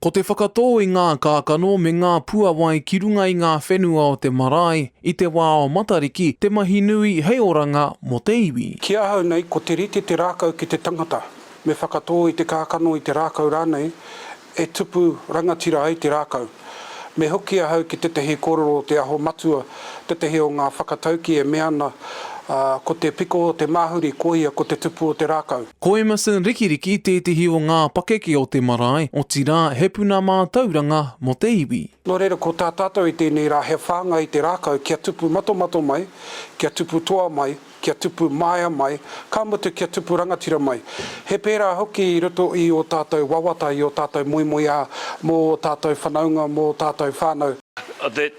Ko te whakatō i ngā kākano me ngā puawai ki runga i ngā whenua o te marae i te wā o Matariki te mahi nui hei oranga mō te iwi. Ki ahau nei, ko te rite te rākau ki te tangata. Me whakatō i te kākano, i te rākau rānei, e tupu rangatira ai te rākau. Me hoki ahau ki tētahi kōrero o Te Aho Matua Tētehi o ngā whakataukī e mea ana, ko te piko o te māhuri koia ko te tupu o te rākau. Ko Emerson Rikiriki tētehi o ngā pakeke o te marae, otirā, he puna mātauranga mō te iwi. Nō reira, ko tā tātou i tēnei rā he whāngai i te rākau kia tupu matomato mai, kia tupu toa mai, kia tupu māia mai, ka mutu kia tupu rangatira mai. He pērā hoki i roto i ō tātou wawata, i ō tātou moemoeā mō ō tātou whanaunga, mō ō tātou whānau.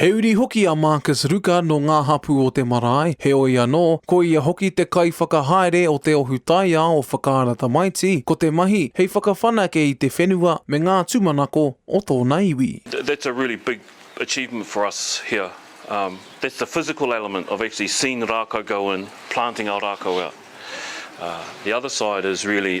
He uri hoki a Marcus Ruka nō ngā hapū o te marae, heoi anō, ko ia hoki te kaiwhakahaere o te ohu taiao o Whakaara Tamaiti, ko te mahi hei whakawhanake i te whenua me ngā tūmanako o tōna iwi. That's a really big achievement for us here, that's the physical element of actually seeing rākau go in, planting our rākau out. The other side is really,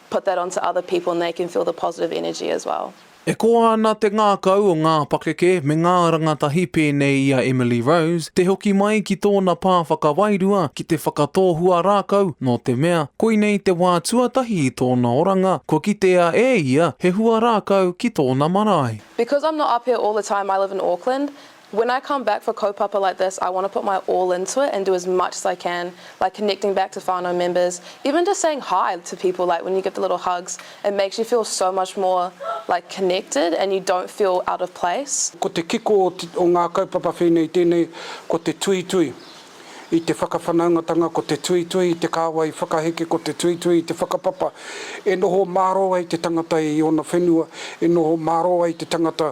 put that onto other people and they can feel the positive energy as well. E koa ana te ngākau o ngā pakeke me ngā rangatahi pēnei i a Emily Rose te hoki mai ki tōna pā whakawairua ki te whakatōhua rākau nō te mea koinei te wā tuatahi i tōna oranga kua kitea e ia he hua rākau ki tōna marae. Because I'm not up here all the time, I live in Auckland, When I come back for kaupapa like this I want to put my all into it and do as much as I can like connecting back to whānau members even just saying hi to people like when you give the little hugs it makes you feel so much more like connected and you don't feel out of place. Ko te kiko o ngā kaupapa whēnei tēnei ko te tuitui i te whakawhanaungatanga ko te tuitui i te kāwai whakaheke ko te tuitui i te whakapapa e noho mārō ai te tangata i ōna whenua e noho mārō ai te tangata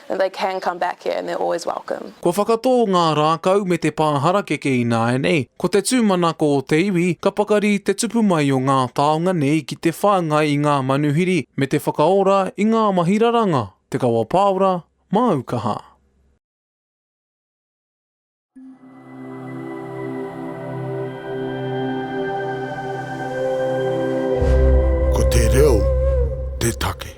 And they can come back here and they're always welcome. Kua whakatō ngā rākau me te pā harakeke ināianei, ko te tūmanako o te iwi ka pakari te tupu mai o ngā taonga nei ki te whāngai i ngā manuhiri me te whakaora i ngā mahi raranga, te kawapāora, māukaha. Ko te reo te take.